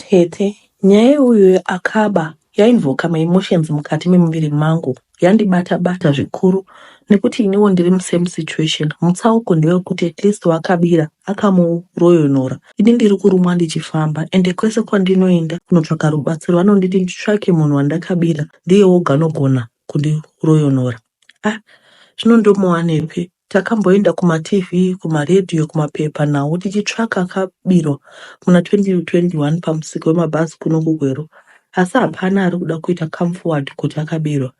Tete, nyaya yeuyo akaba yainvoka ma emotions mukati memuviri mangu yandibata bata zvikuru nekuti iniwo ndiri mu same situation. Mutsauko ndewekuti at least wakabira akamuroyonora ini ndiri kurumwa ndichifamba ende kwese kwandinoenda kunotsvaka rubatsiro vanonditi nditsvake munhu wandakabira ndiye oga anogona kundiroyonora. Ah, zvino ndomuwanepi? Takamboenda kumaTV, kumaredhiyo, kumapepa nhau tichitsvaka akabirwa muna 2021 pamusika wemabhazi kuno kuGweru, asi hapana ari kuda kuita come forward kuti akabirwa.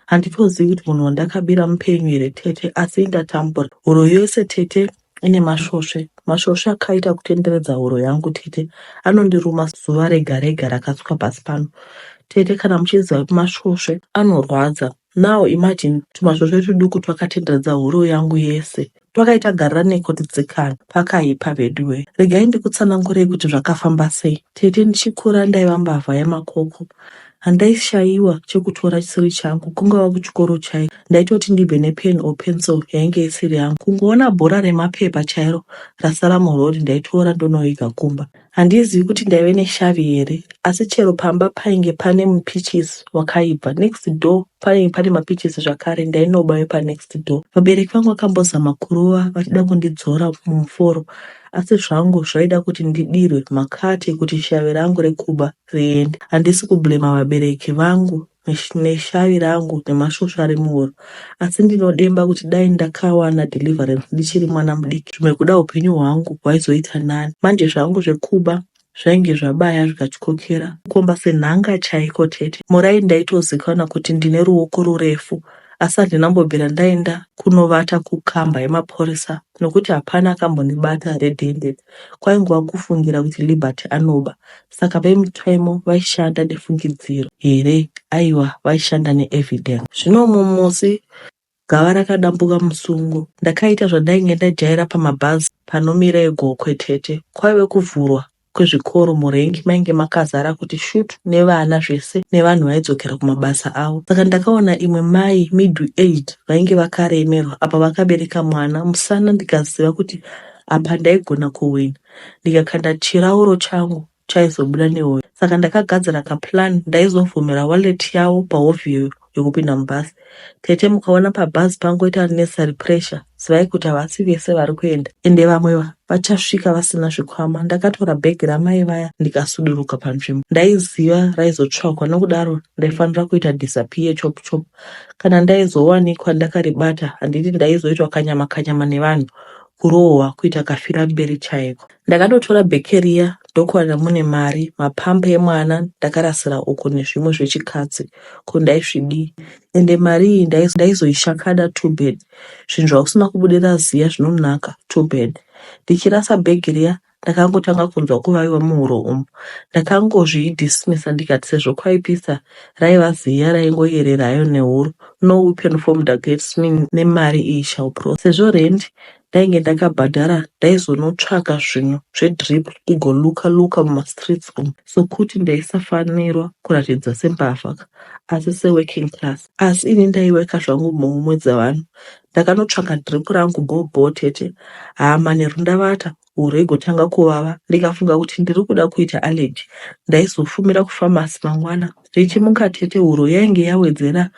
Handitozivi kuti munhu wandakabira mupenyu here tete, asi indatambura. Huro yose tete ine masvosve. Masvosve akaita kutenderedza huro yangu tete, anondiruma zuva rega rega rakasuka pasi pano. Tete, kana muchiziva kuti masvosve anorwadza, Now imagine tumasvosve tuduku twakatenderedza huroo yangu yese. Twakaita gariranei kotitsikana. Pakaipa veduwee. Regai ndikutsanangurei kuti zvakafamba sei. Tete ndichikura ndaiva mbavha yamakoko. Handaishaiwa chekutora chisiri changu kungava kuchikoro chaiko. Ndaitoti ndibve nepen or pencil yainge isiri yangu. Kungoona bhora remapepa chairo rasara muroad ndaitoora ndonoviga kumba. Handizivi kuti ndaive neshavi here asi chero pamba painge pane mupeaches wakaibva. Next door painge pane mapeaches zvakare ndainoba wepanext door. Vabereki vangu vakambozama kurova vachida kundidzora mumuforo asi zvangu zvaida kuti ndidirwe makate kuti shavi rangu rekuba riende. Handisi kublamer vabereki vangu neshavi rangu nemasvosve ari muhuro asi ndinodemba kuti dai ndakawana deliverance ndichiri mwana mudiki zvimwe kuda upenyu hwangu hwaizoita nani manje zvangu zvekuba zvainge zvabaya zvikatyokera kukomba senhanga chaiko tete murai ndaitozikanwa kuti ndine ruoko rurefu asi handina mbobvira ndaenda kunovata kukamba yemaporisa nokuti hapana akambondibata redhende kwaingova kufungira kuti Liberty anoba. Saka vemutemo vaishanda nefungidziro here? Aiwa, vaishanda neevidence. Zvino mumwe musi gava rakadambuka musungo. Ndakaita zvandainge ndajaira pamabhazi panomira egokwetete. Kwaive kuvhurwa kuzvikoro murengi mainge makazara kuti shut nevana zvese nevanhu vaidzokera kumabasa avo saka ndakaona imwe mai middle age vainge vakaremerwa apa vakabereka mwana musana ndikaziva kuti apa ndaigona kuwina ndikakanda chirauro changu chaizobuda nehoyo saka ndakagadzira kaplan ndaizovhomera wallet yavo pahovhiyo yekupinda mubhazi tete mukaona pabhazi pangoita necessary pressure zivai kuti havasi vese vari kuenda ende vamwe vachasvika vasina zvikwama ndakatora bhegi ramai vaya ndikasuduruka panzvimbo ndaiziva raizotsvagwa nokudaro ndaifanira kuita disappear chop chop kana ndaizowanikwa ndakaribata handiti ndaizoitwa kanyama kanyama nevanhu kurohwa kuita kafira mberi chaiko Ndakatotora bheke riya ndokuwana mune mari, mapamper emwana ndakarasira uko nezvimwe zvechikadzi ko ndaizvidii ende mari iyi ndaiz- ndaizoishakada too bad. Zvinhu zvausina kubudira ziya zvinonaka too bad. Ndichirasa bhegi riya ndakangotanga kunzwa kuvaviwa muhuro umu. Ndakangozvidismissa ndikati sezvo kwaipisa raiva ziya raingoyerera hayo nehuro no weapon formed against me nemari iyi shall prosper. Sezvo rent Ndainge ndakabhadhara ndaizonotsvaka zvinhu zvedrip kugo luka luka mumastreets umu sokuti ndaisafanirwa kuratidza sembavha ka asi seworking class asi ini ndaiweka zvangu mhomho dzevanhu ndakanotsvaka drip rangu bho bho tete haa manheru ndavata huro igotanga kuvava ndikafunga kuti ndiri kuda kuita allergy ndaizofumira kufamasi mangwana Richimuka tete huro yainge yawedzera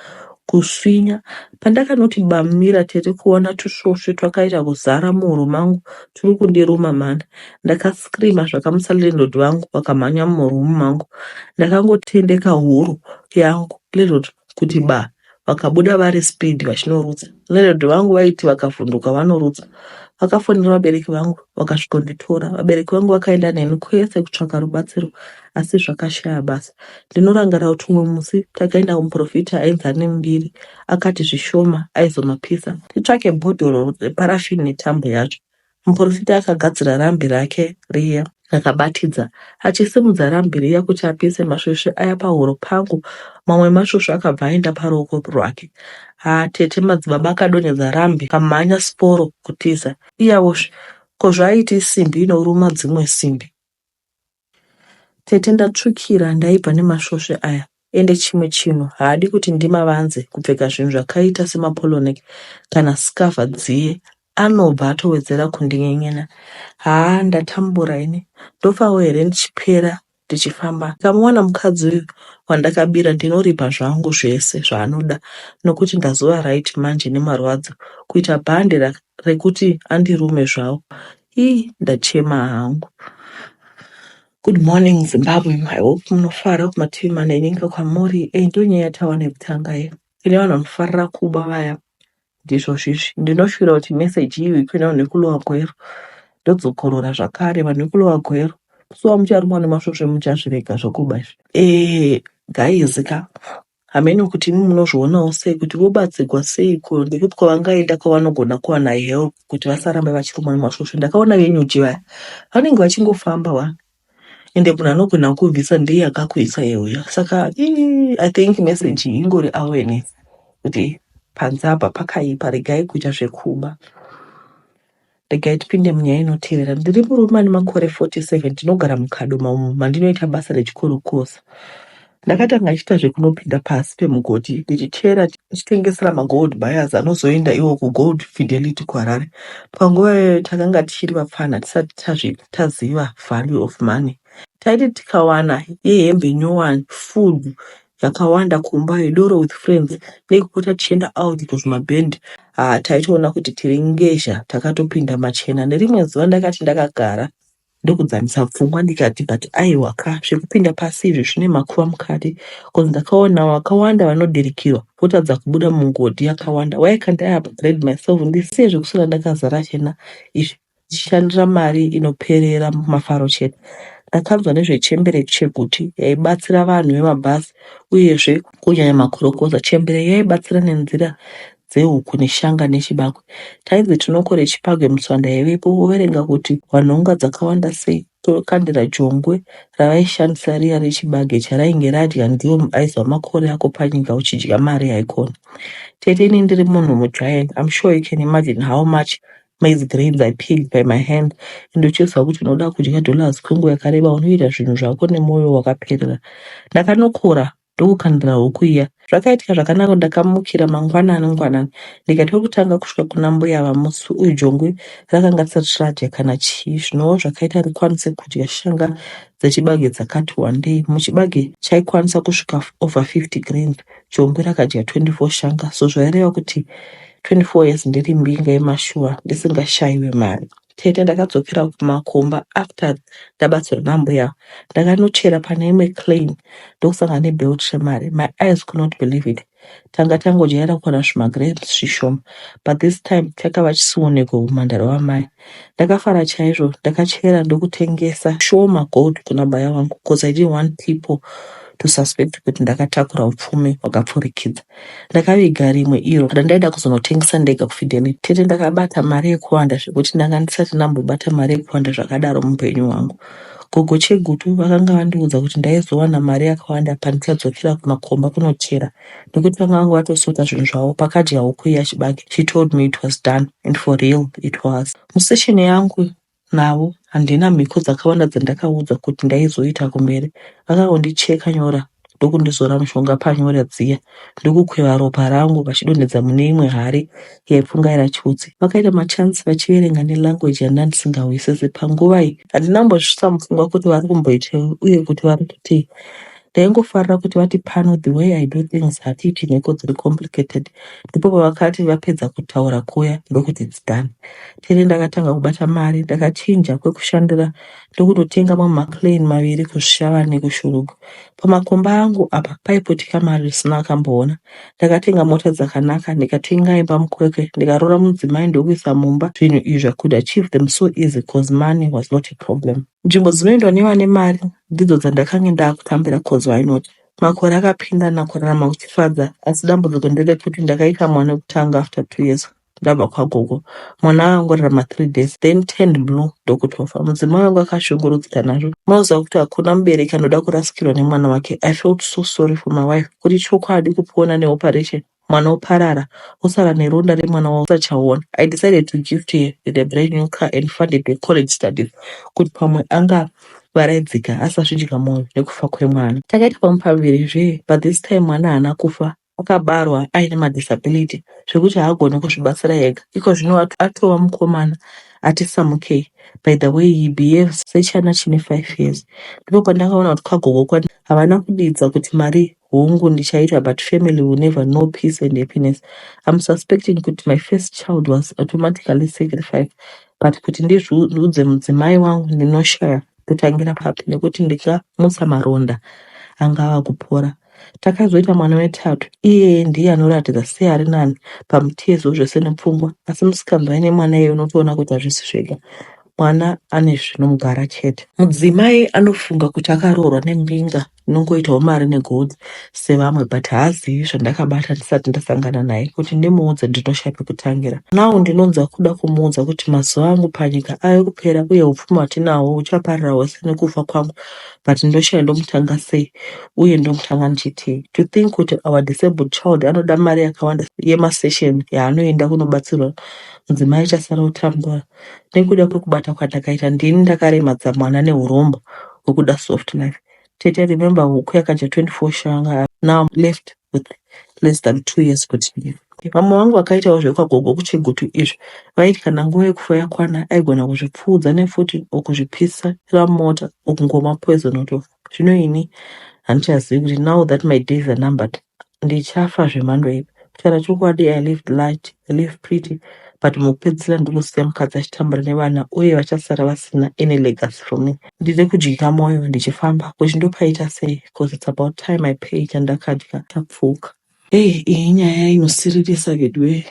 kuswinya. Pandakanoti bamumira tete kuona tusvosve twakaita kuzara muhuro mangu turi kundiruma mhani. Ndakascreamer zvakamutsa landlord vangu vakamhanya muroom mangu. Ndakangotendeka huro yangu landlord kuti baa. vakabuda vari speed vachinorutsa landlord vangu vaiti vakavhunduka vanorutsa vakafonera vabereki vangu vakasvikonditora vabereki vangu vakaenda neni kwese kutsvaka rubatsiro asi zvakashaya basa ndinorangarira kuti umwe musi takaenda kumuprofita ainzi ane mbiri akati zvishoma aizomapisa titsvake bhodhoro reparafini netambo yacho Muporofita akagadzira rambi rake riya. Ndakabatidza, achisimudza rambi riya kuti apise masvosve aya pahuro pangu, mamwe emasvosve akabva aenda paruoko rwake. Haa tete, madzibaba akadonhedza rambi kamhanya siporo kutiza. Iyavozve, ko zvaaiti isimbi inoruma dzimwe simbi. Tete ndatsvukira ndaibva nemasvosve aya ende chimwe chinhu haadi kuti ndimavanze kupfeka zvinhu zvakaita semapolonek kana scava dziye anobva atowedzera kundinyenyena haa ndatambura ini ndofawo here ndichipera ndichifamba ndikamuwana mukadzi uyu wandakabira ndinoripa zvangu zvese zvaanoda nokuti ndazova right manje nemarwadzo kuita bhande rekuti andirume zvawo Hii ndachema hangu. Good morning Zimbabwe. I hope munofara kumativi mana enyika kwamuri. Eh, ndiyo nyaya yatawana yekutanga iyo. Ine vanhu vanofarira kuba vaya. Ndizvo zvizvi. Ndinoshuvira kuti message iyi kune vanhu vekulowa gwero. Ndodzokorora zvakare vanhu vekulowa gwero. Kusuwa mucharumwa nemasvosve muchazvirega zvokuba izvi. Eh, guys ka. Hameno kuti imi munozvionawo sei kuti vobatsirwa seiko nekuti kwavangaenda kwavanogona kuwana help kuti vasarambe vachirumwa nemasvosve. Ndakaona venyuchi vaya vanenge vachingofamba wani ende munhu anogona kukubvisa ndiye akakuisa iye uya. Saka ii, I think message iyi ingori awareness kuti panze apa pakaipa, regai kuita zvekuba. Regai tipinde munyaya inotevera. Ndiri murume ane makore 47 ndinogara muKadoma umo mandinoita basa rechikorokoza. Ndakatanga ndichiita zvekunopinda pasi pemugodhi ndichichera ndichitengesera magold buyers anozoenda iwo kugold fidelity kuharare panguva iyoyo takanga tichiri vapfana tisati tazvi- taziva value of money taiti tikawana yehembe nyowani food zvakawanda kumba vedoro with friends nekupota tichienda out kuzvimaband ah, taitoona kuti tiri ngezha takatopinda machena nerimwe zuva ndakati ndakagara ndokudzamisa pfungwa ndikati but aiwa ka zvekupinda pasi izvi zvine makuva mukati bcoz ndakaona vakawanda vanodirikirwa votadza kubuda mungodhi yakawanda why can't i upgrade myself ndisiye zvekuswera ndakazara chena izvi ndichishandira mari inoperera mumafaro chete. Ndakanzwa nezvechembere cheguti yaibatsira vanhu vemabhazi uyezve kunyanya makorokoza. Chembere yaibatsira nenzira dzehuku neshanga nechibagwe. Tainzi tinokore chibagwe mutswanda yaivepo voverenga kuti wanhonga dzakawanda sei. Tokandira jongwe ravaishandisa riya rechibage charainge radya ndiwo mubaizi wamakore ako panyika uchidya mari haikona. Tete ini ndiri munhu mugiant I'm sure you can imagine how much maize grains I picked by my hand and uchiziva kuti unoda kudya dollars kwenguva yakareba unoita zvinhu zvako nemoyo wakaperera. Ndakanokora ndokukandira huku iya. Zvakaitika zvakanaka kuti ndakamukira mangwanani ngwanani ndikati kwekutanga kusvika kuna mbuya ava musi uyu jongwe rakanga risati radya kana chii zvinowo zvakaita rikwanise kudya shanga dzechibage dzakati wandei. Muchibage chaikwanisa kusvika over 50 grains jongwe rakadya 24 shanga so zvaireva kuti 24 years ndiri mbinga yemashuwa ndisingashaiwe mari. Tete ndakadzokera kumakomba after ndabatsirwa nambuya ava. Ndakanochera pane imwe claim ndokusangana nebelt remari. My eyes could not believe it. Tanga tangojaira kuwana zvimagrams zvishoma but this time chakava chisionekwe humhandara hwamai. Ndakafara chaizvo ndakachera ndokutengesa shoma gold kuna baya wangu cause I didn't want people to suspect kuti ndakatakura upfumi hwakapfurikidza. Ndakaviga rimwe iro randaida kuzonotengesa ndega kuFidelity. Tete ndakabata mari yekuwanda zvekuti ndanga ndisati ndambobata mari yekuwanda zvakadaro muhupenyu hwangu. Gogo Chegutu vakanga vandiudza kuti ndaizowana mari yakawanda pandichadzokera kumakomba kunochera nekuti vanga vanga vatosota zvinhu zvavo pakadya huku iya chibage. She told me it was done and for real it was. Musession yangu navo handina mhiko dzakawanda dzandakaudzwa kuti ndaizoita kumberi vakangondicheka nyora ndokundizora mushonga panyora dziya ndokukweva ropa rangu vachidonhedza mune imwe hari yaipfungaira chiutsi vakaita machansi vachiverenga nelanguage yandandisingahwisisi panguva iyi handina mbozvisvitsa mupfungwa kuti vari kumboitei uye kuti vari kutei Ndaingofarira kuti vati pano the way I do things hatiiti mhiko dziri complicated. Ndipo pavakati vapedza kutaura kuya ndokuti it's done. Tere ndakatanga kubata mari ndakachinja kwekushandira ndokunotenga mamwe maplane maviri kuShava nekuShurugwi. Pamakomba angu apa paiputika mari risina akamboona. Ndakatenga mota dzakanaka ndikatenga imba mukwekwe ndikaroora mudzimai ndokuisa mumba zvinhu izvi zvakuda chief them so easy cause money was not a problem. Nzvimbo dzinoendwa nevane mari ndidzo dzandakange ndakutambira coz why not. Makore akapindana kurarama kuchifadza asi dambudziko nderekuti ndakaita mwana wekutanga after two years ndabva kwagogo. Mwana akangorarama three days then turned blue ndokutofa. Mudzimai wangu akashungurudzika nazvo. Unoziva kuti hakuna mubereki anoda kurasikirwa nemwana wake. I felt so sorry for my wife kuti chokwadi kupona neoperation Mwana oparara osara neronda remwana wausachaona. I decided to gift her with a brand new car and funded her college studies kuti pamwe angavaraidzika asazvidya moyo nekufa kwemwana. Takaita pamwe paviri zvee but this time mwana haana kufa akabarwa aine madisability zvekuti haagone kuzvibatsira ega. Iko zvino atova mukomana ati samukei. By the way he behaves sechana chine five years. Ndipo pandakaona kuti kagogo kwandainge havana kudidza kuti mari Hungu ndichaita but family will never know peace and happiness. I'm suspecting kuti my first child was automatically sacrificed but kuti ndizviudze mudzimai wangu ndinoshaya kutangira papi nekuti ndikamutsa maronda anga ava kupora. Takazoita mwana wetatu iyeye ndiye anoratidza seari nani pamutezo zvese nepfungwa asi musikanzwa aine mwana iye unotoona kuti hazvisi zvega mwana ane zvinomugara chete. Mudzimai anofunga kuti akaroorwa nembinga. Ndinongoitawo mari negold sevamwe but haazivi zvandakabata ndisati ndasangana naye kuti ndimuudze ndinoshaya pekutangira. Now ndinonzwa kuda kumuudza kuti mazuva angu panyika ave kupera uye hupfumi hwatinahwo huchaparira hwese nekufa kwangu but ndoshaya ndomutanga sei uye ndomutanga ndichitii. To think kuti our disabled child anoda mari yakawanda yemasession yaanoenda kunobatsirwa mudzimai chasara kutambura. nekuda kwekubata kwandakaita ndini ndakaremadza mwana nehuromba hwekuda soft life tete remember huku yakadya 24 shanga now I'm left with less than two years kuti ndife vamwe vangu vakaitawo zvekwagogo kuchigutu izvi vaiti kana nguva yekufa yakwana aigona kuzvipfuudza nefuti or kuzvipisa ramota or kungomwa poison otofa zvino ini handichazivi kuti now that my days are numbered ndichafa zvemhando iyi kutaura chokwadi i lived light i lived pretty but mukupedzisira ndiri kusiya mukadzi achitambura nevana uye vachasara vasina any legacy from me ndiri kudyika mwoyo ndichifamba kuti ndopaita sei bcause its about time i pay chandakadya tapfuka hey iyi nyaya inosiririsa veduwee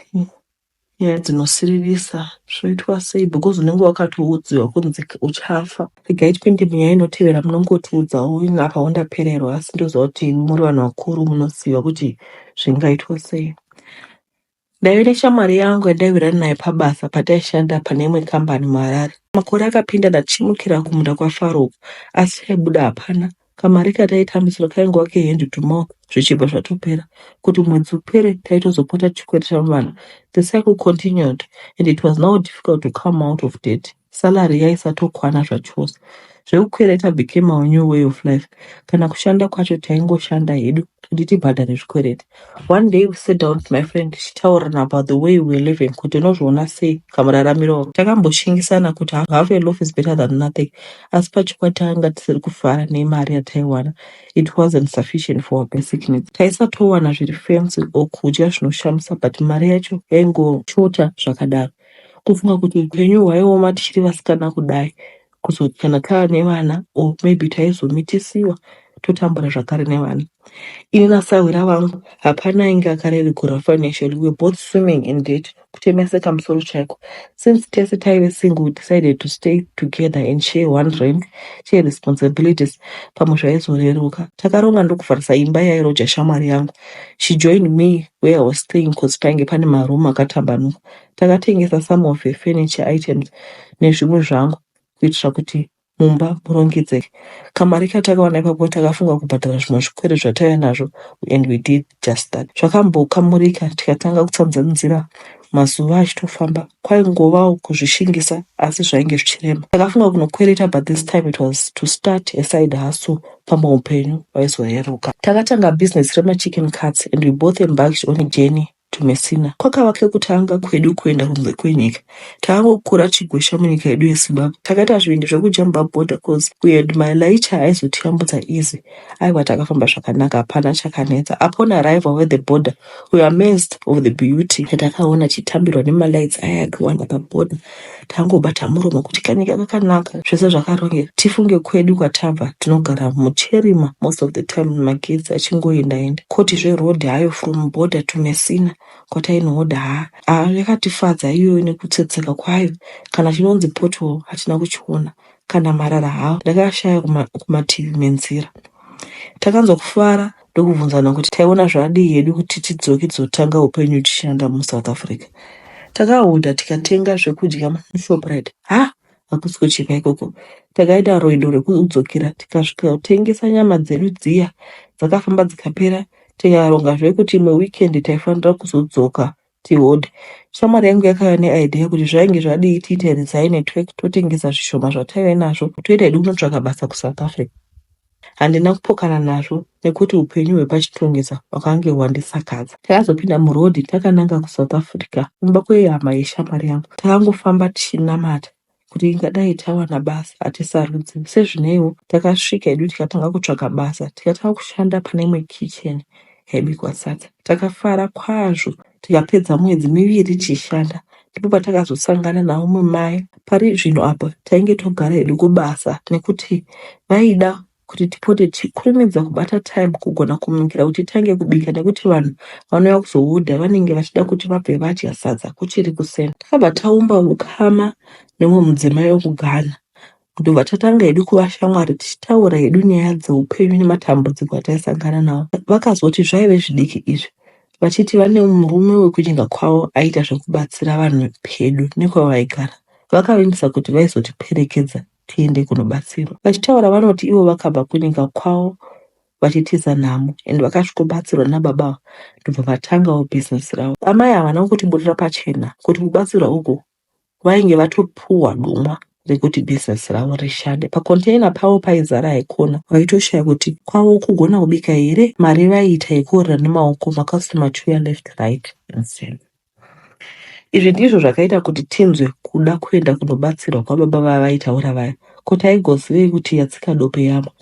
nyaya dzinosiririsa zvoitwa sei because unenge wakatoudziwa kunzi uchafa regai tipinde munyaya inotevera munongotiudzawo ini apa wandapererwa asi ndoziva kuti imi muri vanhu vakuru munoziva kuti zvingaitwa sei ndaive neshamwari yangu yandaivirana naye pabasa pataishanda pane imwe kambani muharare makore akapinda ndachimukira kumunda kwafaro uko asi chaibuda hapana Kamari kataitambisirwa kaingova kehand to mouth zvichibva zvatopera. Kuti mwedzi upere taitozopota tichikwereta vana. The cycle continued and it was now difficult to come out of debt. Salary yaisatokwana zvachose. Zvekukwereta became our new way of life. Kana kushanda kwacho taingoshanda hedu kuti tibhadhare zvikwereti. One day we sat down with my friend tichitaurirana about the way we're living kuti unozviona sei kamuraramiro ako. Takamboshingisana kuti half half a loaf is better than nothing asi pachokwadi takanga tisiri kufara nemari yataiwana. It wasn't sufficient for our basic needs. Taisatowana zviri fancy or kudya zvinoshamisa but mari yacho yaingoshota zvakadaro. Kufunga kuti upenyu hwaioma tichiri vasikana kudai kuzoti kana tava nevana or maybe taizomitisiwa totambura zvakare nevana ini nasahwira vangu hapana ainge akarerigura financially we were both swimming in debt kutemeseka musoro chaiko since tese taive single we decided to stay together and share one rent share responsibilities pamwe zvaizoreruka takaronga ndokuvharisa imba yairoja shamwari yangu she joined me where i was staying cause painge pane maroom akatambanuka Takatengesa some of her furniture items nezvimwe zvangu kuitira kuti mumba murongedzeke. Kamari katakawana ipapo takafunga kubhadhara zvimwe zvikwere zvataiva nazvo and we did just that. Zvakambokamurika tikatanga kutsanzanzira mazuva achitofamba kwaingovawo kuzvishingisa asi zvainge zvichirema. Takafunga kunokwereta but this time it was to start a side hustle pamwe upenyu hwaizoreruka. Takatanga business remachicken cuts and we both embarked on a journey Tumesina kwakava kekutanga kwedu kuenda kunze kwenyika. Takangokura tichigwesha munyika yedu yeZimbabwe. Takaita zvivindi zvekujamba border coz we had my laicha aizotiyambutsa easy. Aiwa takafamba zvakanaka hapana chakanetsa. Upon arrival at the border we were amazed of the beauty yatakaona tichitambirwa nemalights aya akiwanda paborder. tangobata muromo kuti kanyika kakanaka zvese zvakarongeka tifunge kwedu kwatabva tinogara mucherima most of the time magetsi achingoendaenda koti zveroad hayo from border to messina kwatainohodha haa haa yakatifadza iyoyo nekutsetseka kwayo kana chinonzi pothole hatina kuchiona kana marara hawo ndakashaya kumativi menzira takanzwa kufara ndokubvunzana kuti taiona zvadii hedu kuti tidzoke tizotanga upenyu tichishanda musouth africa takahodha tikatenga zvekudya mushoprite ha hakusi kuchipa ikoko takaita rwendo rwekudzokera tikasvika kutengesa nyama dzedu dziya dzakafamba dzikapera tikaronga zvekuti imwe weekend taifanira kuzodzoka Tihood. Shamwari yangu yakauya neidea kuti zvainge zvadii tiite resign network totengesa zvishoma zvataive nazvo toita hedu kunotsvaka basa kuSouth Africa. Handina kupokana nazvo nekuti upenyu hwepachitungisa hwakange hwandisakadza. Takazopinda muroad takananga kuSouth Africa kumba kwehama yeshamwari yangu. Takangofamba tichinamata kuti ingadai tawana basa hatisarudzi sezvineiwo takasvika hedu tikatanga kutsvaga basa tikatanga kushanda pane imwe kicheni yaibikwa sadza takafara kwazvo tikapedza mwedzi miviri tichishanda ndipo patakazosangana naumwe mai pari zvino apa tainge togara hedu kubasa nekuti vaida kuti tipote tichikurumidza kubata time kugona kumukira kuti titange kubika nekuti vanhu vanouya kuzohodha vanenge vachida kuti vabve vadya sadza kuchiri kuseni takabva taumba ukama nemwe mudzimai wekughana ndobva tatanga hedu kuva shamwari tichitaura hedu nyaya dzeupenyu nematambudziko ataisangana nawo vakazoti zvaive zvidiki izvi vachiti vane murume wekuchinga kwavo aiita zvekubatsira vanhu pedu nekwavaigara vakavimbisa kuti vaizotiperekedza tiende kunobatsirwa. Vachitaura vanoti ivo vakabva kunyika kwavo vachitiza nhamo and vakasvikobatsirwa nababa ava ndobva vatangawo business ravo. Amai ava havana kutiburira pachena kuti kubatsirwa uku vainge vatopuhwa dumwa rekuti business ravo rishande. Pacontainer pavo paizara haikona, vaitoshaya kuti kwavo kugona kubika here, mari vaiita yekuorera nemaoko makasitoma achiuya left right and center. Izvi ndizvo zvakaita kuti tinzwe kuda kuenda kunobatsirwa kwababa vaya vaitaura vaya. Ko taigozivei kuti yatsika dope yamwa?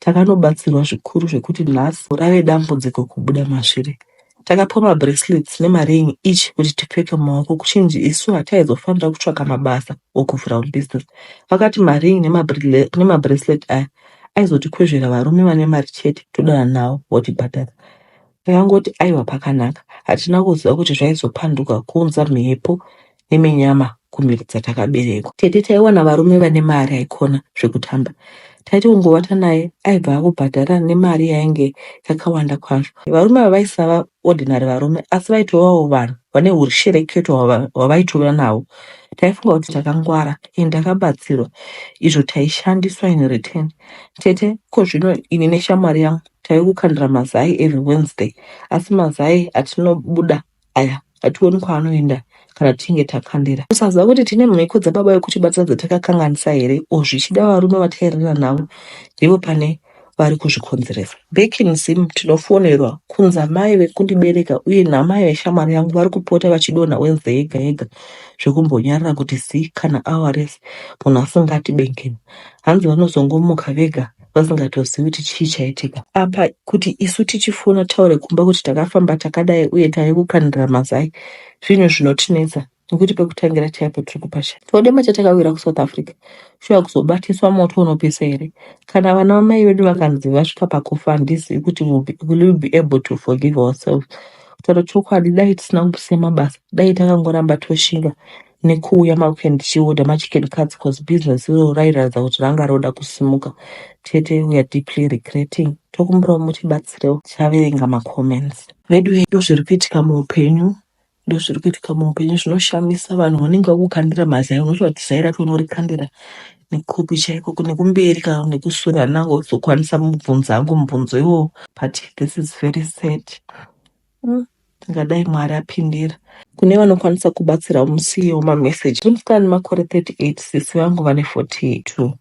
Takanobatsirwa zvikuru zvekuti nhasi rave dambudziko kubuda masviri. Takapiwa mabracelets nemaring each kuti tipfeke mumaoko kuchinzi isu hataizofanira kutsvaka mabasa or kuvhura business. Vakati maring nemabracelet aya aizotikwezvera varume vane mari chete todanana navo votibhadhara. Ndakangoti aiwa pakanaka. Hatina kuziva kuti zvaizopanduka kuunza mhepo neminyama kumhiko dzatakaberekwa. Tete taiwana varume vane mari aikona zvekutamba. Taiti kungovata naye aibva akubhadhara nemari yainge yakawanda kwazvo. Varume ava vaisava ordinary varume asi vaitovawo vanhu vane hushereketo hwava- hwavaitova nahwo. Taifunga kuti takangwara and takabatsirwa izvo taishandiswa in return. Tete ko zvino ini neshamwari yangu Tave kukandira mazai every Wednesday asi mazai atinobuda aya hationi kwaanoenda kana tichinge takandira. Kusaziva kuti tine mhiko dzababa vekutibata dzatakakanganisa here or zvichida varume vatairera navo ndivo pane vari kuzvikonzeresa. Back in Zim tinofonerwa kunzi amai vekundibereka uye namai veshamwari yangu vari kupota vachidonha Wednesday yega yega zvekumbonyarara kuti zii kana hour rese munhu asingati bengenu. Hanzi vanozongomuka vega vasingatozivi kuti chii chaitika apa kuti isu tichifona taure kumba kuti takafamba takadai uye tave kukanira mazai zvinhu zvinotinetsa nekuti pekutangira chaipo tiri kupasha chodema chatakawira kusouth africa shuwa kuzobatiswa moto unopisa here kana vana vamai vedu vakanzi vasvika pakufa handizivi kuti will be, will we be able to forgive ourselves kutaura chokwadi dai tisina kusiya mabasa dai takangoramba toshinga nekuuya maweekend tichiorder machicken cuts cause business iroro rairatidza kuti ranga roda kusimuka. Tete we are deeply regretting. Tokumbirawo mutibatsirewo tichaverenga macomments. Veduwee ndozviri kuitika muupenyu ndozviri kuitika muupenyu zvinoshamisa vanhu vanenge vakukandira mazai unoti vati zai racho unorikandira nekupi chaiko kune kumberi ka nekusure handina kuzokwanisa mubvunzo hangu mubvunzo iwowo but this is very sad mm. Tingadai Mwari apindira. Kune vanokwanisa kubatsirawo musiyewo mameseji. Uri musikana ane makore 38 sisi vangu vane 42.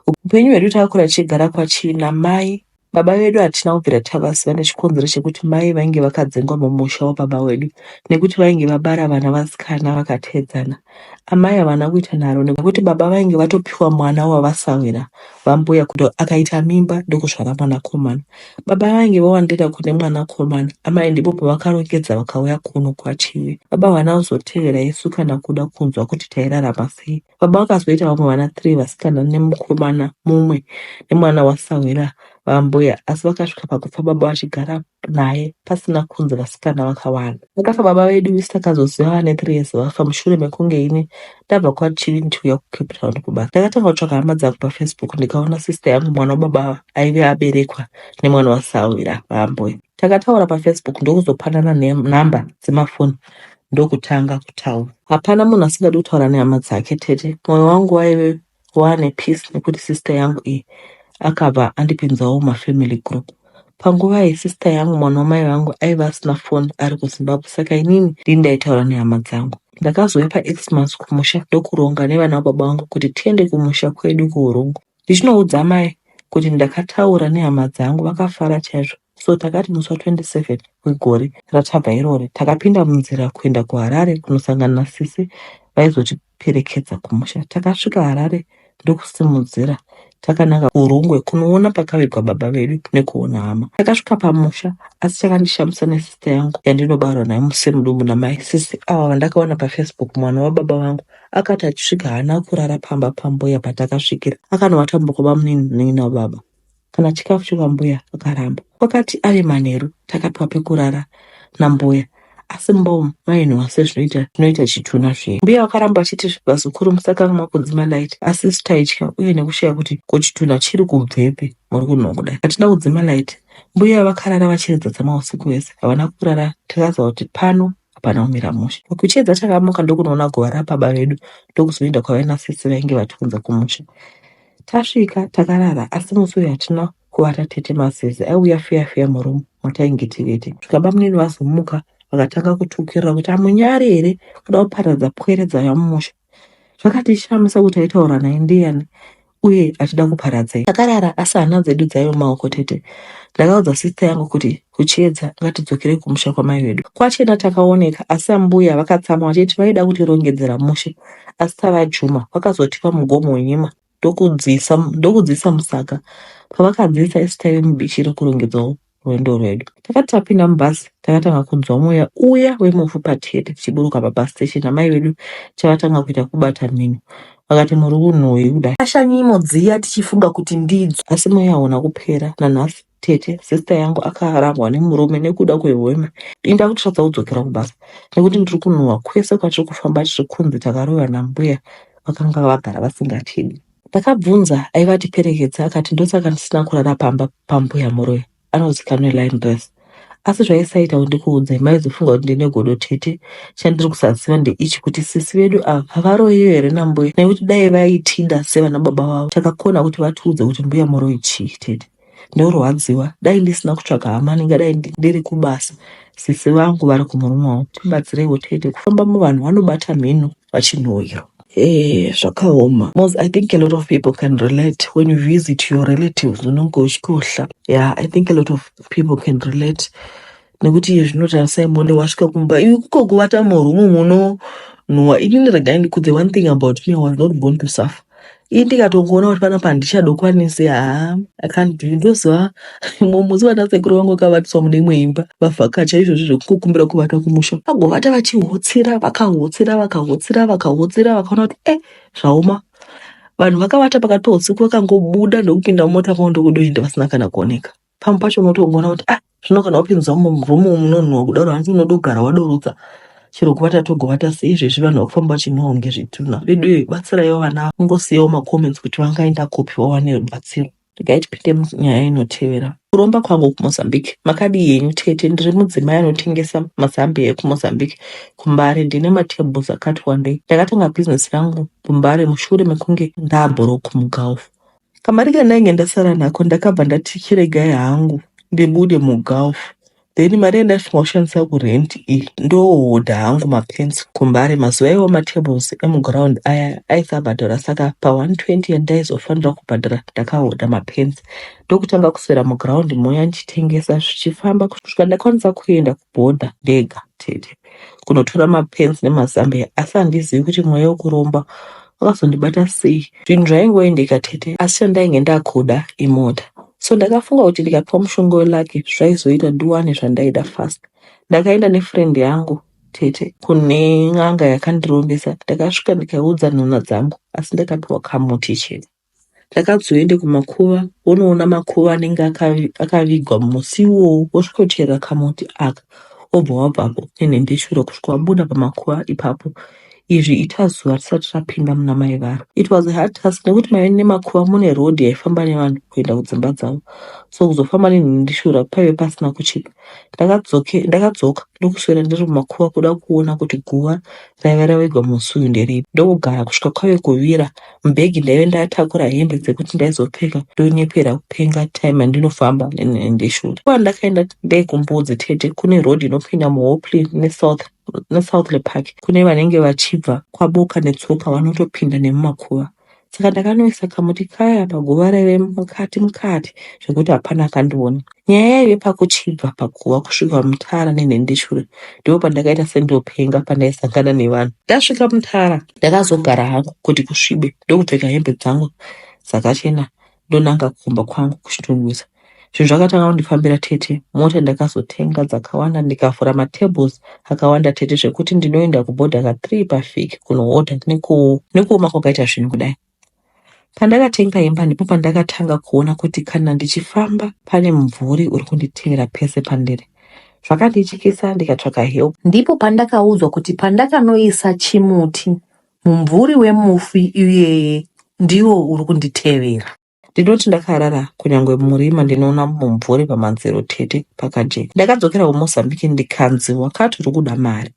Upenyu hwedu takakura tichigara kwachii namai. Baba vedu hatina kubvira tavaziva nechikonzero chekuti mai vainge vakadzingwa mumusha wababa wedu nekuti vainge vabara vana vasikana vakateedzana. Amai havana kuita nharo nekuti baba vainge vatopiwa mwana wavasahwira vambuya kuti akaita mimba ndokuzvara mwanakomana. Baba vange vowandira kune mwanakomana, amai ndipo pavakarongedza vakauya kuno kwaChivi. Baba havana kuzotevera isu kana kuda kunzwa kuti tairarama sei. Baba vakazoita vamwe vana three vasikana nemukomana mumwe nemwana wasahwira vambuya asi vakasvika pakufa baba vachigara naye pasina kunzi vasikana vakawanda. Vakafa baba vedu isu takazoziva vane three years vafa mushure mekunge ini ndabva kwaChivi ndichiuya kuCape Town kuba. Ndakatanga kutsvaga hama dzangu paFacebook ndikaona sister yangu mwana wababa ava aive aberekwa nemwana wasahwira vaambuya. Takataura paFacebook ndokuzopanana nem- number dzemafoni ndokutanga kutaura. Hapana munhu asingadi kutaura nehama dzake tete. Moyo wangu waive Waane peace nekuti sister yangu iyi akabva andipinzawo mafamily group. Panguva iyi sister yangu mwana wamai vangu aiva asina phone ari kuZimbabwe saka inini ndini ndaitaura nehama dzangu. Ndakazouya paXmas kumusha ndokuronga nevana vababa vangu kuti tiende kumusha kwedu kuHurungu. Ndichinoudza amai kuti ndakataura nehama dzangu vakafara chaizvo so takati musi wa 27 wegore ratabva irori takapinda munzira kuenda kuHarare kunosangana nasisi vaizoti perekedza kumusha takasvika harare ndokusimudzira takananga kurungwe kunoona pakavigwa baba vedu nekuona hama takasvika pamusha asi chakandishamisa nesista yangu yandinobarwa naye musemudumbu namai sisi ava vandakaona pafacebook mwana wababa vangu akati achisvika haana kurara pamba pambuya patakasvikira akanovata mbokobamunini munin'ina wababa kana chikafu chekwambuya vakaramba. Kwakati ave manheru takapiwa pekurara nambuya asi mumba umu mainhuwa sezvinoita zvinoita chitunha zviye. Mbuya vakaramba vachiti vazukuru musakangamwa kudzima light asi isu taitya uye nekushaya kuti ko chitunha chiri kubvepi muri kunhuwa kudai. Hatina kudzima light mbuya vakarara vachiridza dzama usiku hwese havana kurara takaziva kuti pano hapana kumira mushe. Kuchedza takamuka ndokunoona guva rababa vedu ndokuzoenda kwavaina sisi vainge vatiunza kumusha. Tasvika takarara asi musi uyu hatina kuvata tete masezi aiuya fiya fiya muroom matainge tivete. Svika bamunini vazomuka vakatanga kutukirira kuti amunyari here kuda kuparadza pwere dzava mumusha. zvakatishamisa kuti aitaura naye ndiyani uye achida kuparadzei takarara asi hana dzedu dzaive mumaoko tete ndakaudza sister yangu kuti kuchiedza ngatidzokerei kumusha kwamai vedu kwachena takaoneka asi ambuya vakatsamwa vachiti vaida kutirongedzera mushe asi tava juma vakazotipa mugomo wenyima ndokudziisa ndokudziisa musaka pavakadziisa isu taive mubichi rekurongedzawo rwendo rwedu takati tapinda mubhasi takatanga kunzwa mweya uya wemufu patete tichiburuka pabus station amai vedu chavatanga kuita kubata mhino vakati muri kunhuyi kudai ashanyimo dziya tichifunga kuti ndidzo asi mweya hauna kupera nanhasi tete sister yangu akarambwa nemurume nekuda kwehwema ini ndakutotadza kudzokera kubasa nekuti ndiri kunhuhwa kwese kwatiri kufamba tiri kunzi takaroyiwa nambuya vakanga vagara vasingatidi ndakabvunza aiva atiperekedza akati ndosaka ndisina kurara pamba pambuya muroyi anozikanwa line dress asi zvaisaita kuti ndikuudzai maizofunga kuti ndine godo tete chandiri kusaziva ndeichi kuti sisi vedu ava havaroyiwe here nambuya nekuti dai vaitida sevana baba vavo takakona kuti vatiudze kuti mbuya muroyi chii tete ndorwadziwa dai ndisina kutsvaga hama ndingadai ndiri kubasa sisi vangu vari kumurume wangu tibatsireiwo tete kufamba muvanhu vanobata mhino vachinhoira Eh, zvakaoma mos i think a lot of people can relate when you visit your relatives unonge uchikohla yeah i think a lot of people can relate nekuti iye zvino tarisai muone wasvika kumba iwe kuko kuvata murumu munonhuwa inini regai ndikudze one thing about me I was not born to suffer ii ndikatongoona kuti panapa handichadokwanisi haa I can't do it. ndoziva mumwe musi vana sekuru vangu vakavatiswa mune imwe imba vavhakacha izvozvi zvekukumbira kuvata kumusha vagovata vachihotsira vakahotsira vakahotsira vakahotsira vakaona kuti eh zvaoma vanhu vakavata pakati peusiku vakangobuda ndokupinda mumota kwavo ndokudoenda vasina kana kuoneka pamwe pacho unotongoona kuti ah zvino kana wapinzwa muroom munonhuwa kudaro hanzi unoda kugara wadorotsa chero kuvata togovata sei izvezvi vanhu vakufamba vachinhuwa kunge zvitunha vedu iyoyi batsiraiwo vana ava kungosiyawo macomments kuti vangaenda kupi vawane rubatsiro regai tipinde munyaya inotevera kuromba kwangu kumozambique makadii henyu tete ndiri mudzimai anotengesa mazambiya ekumozambique kumbare ndine matables akati wandei ndakatanga bhizinesi rangu kumbare mushure mekunge ndaabhoroku mugulf Kamari kandainge ndasara nako ndakabva ndati chiregai hangu ndibude mugulf then mari yandaifanirwa kushandisa kurent iyi ndoohodha hangu mapants kumbare mazuva iwayo matables emuground aya aisabhadhara saka pa 120 yandaizofanira kubhadhara ndakahodha mapants ndokutanga kuswera muground muya ndichitengesa zvichifamba kusvika ndakwanisa kuenda Boda ndega tete kunotora mapens nemazambiya asi handizivi kuti mweya wekuromba wakazondibata sei. Zvinhu zvaingoendeka tete asi chandainge ndakuda imota so ndakafunga kuti ndikapiwa mushonga welaki zvaizoita ndiwane zvandaida fast. Ndakaenda nefriend yangu tete kune n'anga yakandirombesa ndakasvika ndikaudza nhunha dzangu asi ndakapiwa kamuti chete. Ndakazoenda kumakuva wonoona makuva anenge akavigwa musi iwowo wosvikochera kamuti aka wobva wabvapo nenhembeshure kusvika wabuda pamakuva ipapo izvi ita zuva tisati tapinda muna mai varo it was a hard task nekuti maive nemakuva mune road yaifamba nevanhu kuenda kudzimba dzavo so kuzofamba nenhembeshura paive pasina kuchipa ndakadzoka ndokuswera ndiri mumakuva kuda kuona kuti guva raive ravigwa musi uyu nderipi ndokugara kusvika kwave kuvira Mubhegi ndaive ndatakura hembe dzekuti ndaizopfeka ndonyepera kupenga time yandinofamba nendeshura. Kuva ndakaenda ndei kumbudzi tete kune road inopinda muhopley nesouth nesouthley park kune vanenge vachibva kwaboka netsoka vanotopinda nemumakuva saka ndakanoisa kamuti kaya paguva raive mukati mukati zvekuti hapana akandiona nyaya yaive pakuchibva paguva kusvika mutara nenhendeshure ndipo pandakaita sendopenga pandaisangana nevanhu ndasvika mutara Ndakazogara hangu kuti kusvibe ndokupfeka hembe dzangu dzakachena ndonanga kumba kwangu kuchitunhusa. Zvinhu zvakatanga kundifambira tete, mota ndakazotenga dzakawanda ndikavhura matables akawanda tete zvekuti ndinoenda kubhodhaka 3 pavhiki kunohodha nekuoma kwakaita zvinhu kudai. Pandakatenga imba ndipo pandakatanga kuona kuti kana ndichifamba pane mumvuri uri kunditevera pese pandiri. Zvakandityisa ndikatsvaka help. Ndipo pandakaudzwa kuti pandakanoisa chimuti mumvuri wemufi iyeye ndiwo uri kunditevera. Ndinoti ndakarara kunyangwe murima ndinoona mumvuri pamadziro tete pakajeka. Ndakadzokera kuMozambique ndikanzi wakati uri kuda mari.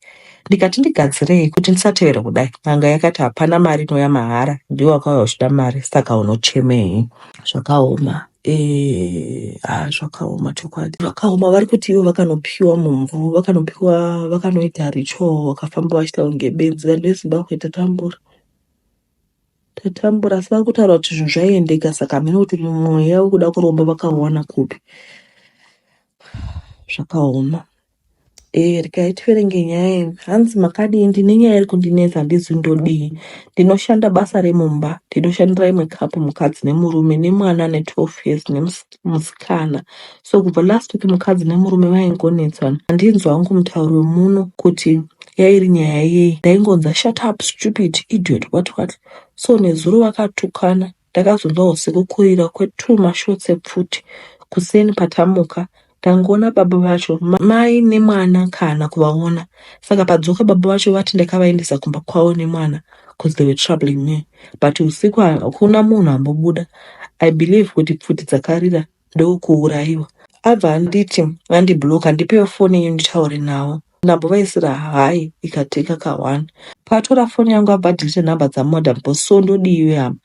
Ndikati ndigadzirei kuti ndisatevere kudai. N'anga yakati hapana mari inouya mahara ndiwe wakauya uchida mari saka unochemei. Zvakaoma. Eh, ah, zvakaoma chokwadi. Zvakaoma vari kuti ivo vakanopiwa mumvu, vakanopiwa vakanoita richo vakafamba vachiita kunge benzi vanhu veZimbabwe tatambura. tatambura asi vari kutaura kuti zvinhu zvaiendeka saka hameno kuti mweya wekuda kuromba vakauwana kupi zvakaoma Eh, regai tiverenge nyaya iyi hanzi makadii ndine nyaya iri kundinetsa handizi ndodii ndinoshanda basa remumba ndinoshandira imwe kapu mukadzi nemurume nemwana ane 12 years nemusikana musikana so kubva last week mukadzi nemurume vaingonetsana handinzwa wangu mutauro wemuno kuti yairi nyaya yei ndaingonza shut up stupid idiot what what so nezuro vakatukana ndakazonzwa usiku kurira kwetu mashotsi epfuti kuseni patamuka tangoona baba vacho mai nemwana kana kuvaona saka padzoka baba vacho vati ndakavaendesa kumba kwavo nemwana cause they were troubling me but usiku hakuna munhu ambobuda i believe kuti pfuti dzakarira ndokuurayiwa abva anditi andibloka ndipewo foni yenyu nditaure nawo ndambovaisira hayi ikateka ka one paatora foni yangu abva adelete nhamba dzamadam cause so ndodii iwe hama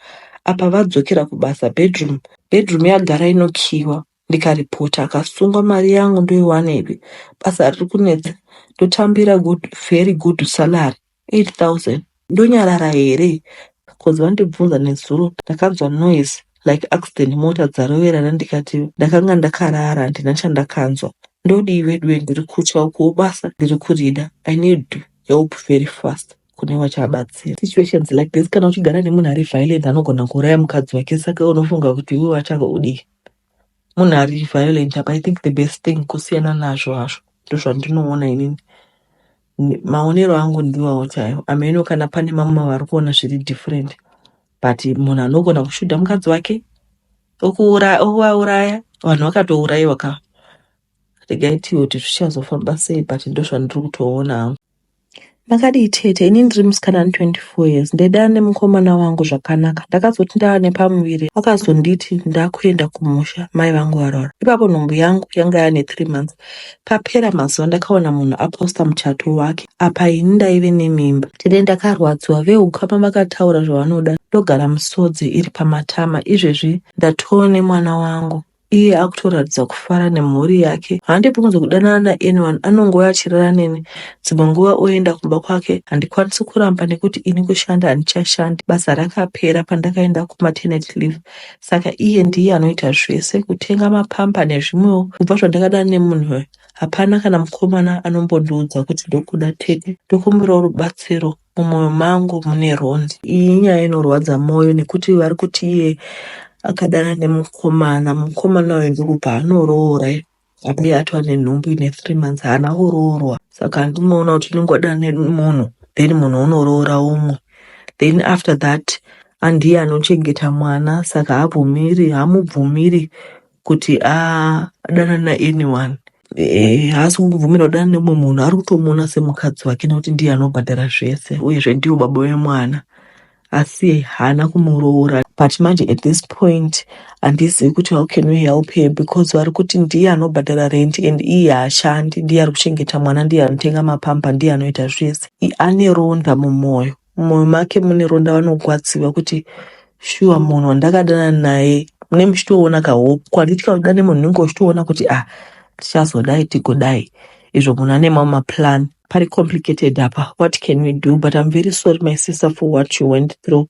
apa vadzokera kubasa bedroom bedroom yagara inokiiwa ndikaripota akasungwa mari yangu ndoiwanepi basa riri kunetsa ndotambira good very good salary 8000 ndonyarara here cause vandibvunza nezuro ndakanzwa noise like accident mota dzaroverana ndikati ndakanga ndakarara handina chandakanzwa ndodii veduwe ndiri kutya ukuwo basa ndiri kurida i need help very fast kune vachabatsira situations like this kana uchigara nemunhu ari violent anogona kuuraya mukadzi wake saka unofunga kuti iwe wachava udii munhu ari violent apa i think the best thing kusiyana nazvo hazvo ndozvandinoona inini maonero angu ndiwawo chaiwo ameno kana pane mamwe vari kuona zviri different but munhu anogona kushuda mukadzi wake okuvauraya vanhu vakatourayiwa ka regai tiwo kuti zvichazofamba sei but ndozvandiri kutoona hangu Makadii tete, ini ndiri musikana ane 24 years ndaidana nemukomana wangu zvakanaka ndakazoti ndava nepamuviri vakazonditi ndakuenda kumusha mai vangu varoora ipapo nhumbu yangu yanga yane 3 months papera mazuva ndakaona munhu aposta muchato wake apa ini ndaive nemimba tete ndakarwadziwa veukama vakataura zvavanoda ndogara musodzi iri pamatama izvezvi ndatoo nemwana wangu iye akutoratidza kufara nemhuri yake handibvunze kudanana naanyone anongouya achirara neni dzimwe nguva oenda kumba kwake handikwanisi kuramba nekuti ini kushanda handichashandi basa rakapera pandakaenda kumatenet leave saka iye ndiye anoita zvese kutenga mapamba nezvimwewo kubva zvandakadana nemunhu uyo hapana kana mukomana anombondiudza kuti ndokuda tete ndokumbirawo rubatsiro Mumoyo mangu mune ronzi. Iyi nyaya inorwadza moyo nekuti vari kuti iye akadana nemukomana mukomana uyu ndokubva anoroora abe atwa nenhumbu ine three months haana kuroorwa saka handimoona kuti unenge wadana nemunhu then munhu unoroora umwe then after that andiye anochengeta mwana saka habvumiri hamubvumiri kuti adanane naanyone eh, haasi kungobvumira kudana nemumwe munhu ari kutomuona semukadzi wake nekuti ndiye anobhadhara zvese uyezve ndiwo baba wemwana asi haana kumuroora but manje at this point handizivi kuti how can we help her because vari kuti ndiye anobhadhara rent and iye haashandi ndiye ari kuchengeta mwana ndiye anotenga mapamba ndiye anoita zvese I- ane ronda mumwoyo Mumoyo make mune ronda vanogwadziva kuti shuwa munhu wandakadana naye mune muchitoona kahope kwanditya kuda nemunhu unenge uchitoona kuti ah tichazodai tigodai izvo munhu ane mamwe maplan pari complicated apa what can we do but i'm very sorry my sister for what you went through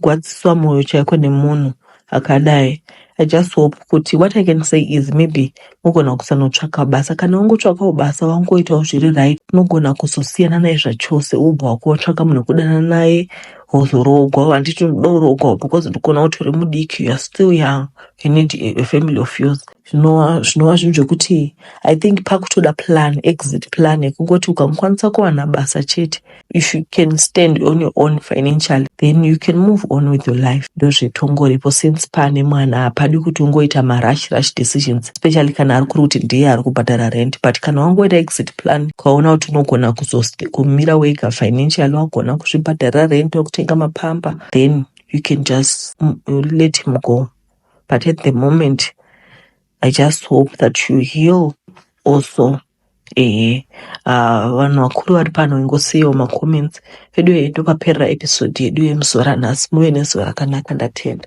Gwadziswa moyo chaiko nemunhu akadai. I just hope kuti what I can say is maybe mogona kusanotsvaka basa. Kana wangotsvakawo basa wangoitawo zviri right unogona kuzosiyana naye zvachose wobva wakuotsvaka munhu wekudanana naye wozoroogwa. Handiti unoda kuroogwa because ndikuona kuti uri mudiki you are still young you need a, a family of yours. Zvinova zvinova zvinhu zvekuti I think pakutoda plan exit plan yekungoti ukamukwanisa kuwana basa chete if you can stand on your own financially then you can move on with your life ndozvetongoripo since pane mwana hapadi kuti ungoita marush rush decisions especially kana ari kuri kuti ndiye ari kubhadhara rent but kana wangoita exit plan ukaona kuti unogona kumira wega financially wagona kuzvibhadhara rent wekutenga mapamba then you can just mm, let him go but at the moment i just hope that you heal also Ehe ah, vanhu vakuru vari pano ingosiyawo macomments veduwe ndopaperera episode yedu yemuzuva ranhasi muve nezuva rakanaka ndatenda